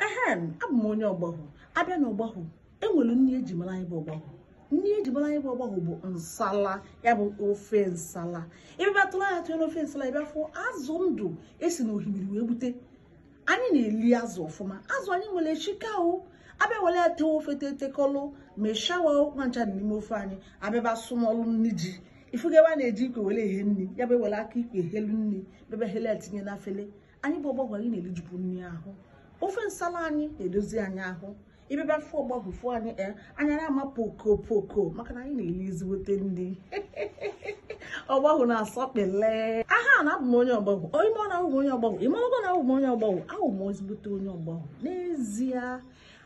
ehem abụ m onye ọgbahụ abịa na ọgbahụ enwere nri eji mara anyị bụ ọgbahụ nri eji mara anyị bụ ọgbahụ bụ nsala ya bụ ofe nsala ebe bịa tụrụ anya tụnyere ofe nsala ebe afọ azụ ndụ esi na ohimiri wee gbute anyị na-eli azụ ọfụma azụ anyị nwere chika o abịa were ya tee ofe tetekọlụ ma shawa ụkwa ncha dị n'ime ofe anyị abịaba sụmọlụ nri ji ị fụga ebe a na-eji ikwe were ehe nri ya bụ ewere aka ikwe helu nri bebe hele tinye na afele anyị bụ ọgbahụ anyị na-elijupu nri ahụ ofe nsala anyị na-edozi anyị ahụ ịbịaba fụ ọgbahụ fụ anyị anya na-ama poko poko maka na anyị na-eli ezigbote nri ọgbahụ na-asọkpele aha na abụ m onye ọgbahụ onye mọ na ahụ m onye ọgbahụ ịmarago na ahụ m onye ọgbahụ ahụ m ezigbote onye ọgbahụ n'ezie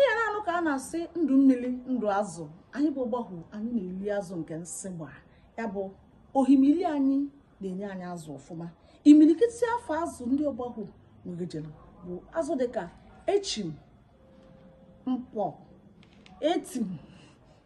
ihe na-anụ ka a na-asị ndụ mmiri ndụ azụ anyị bụ ọgbahụ anyị na-eli azụ nke nsị gba ya bụ ohimili anyị na-enye anyị azụ ọfụma imilikiti afa azụ ndị ọgbahụ nwegejere bụ azụ dịka echim mkpọ etim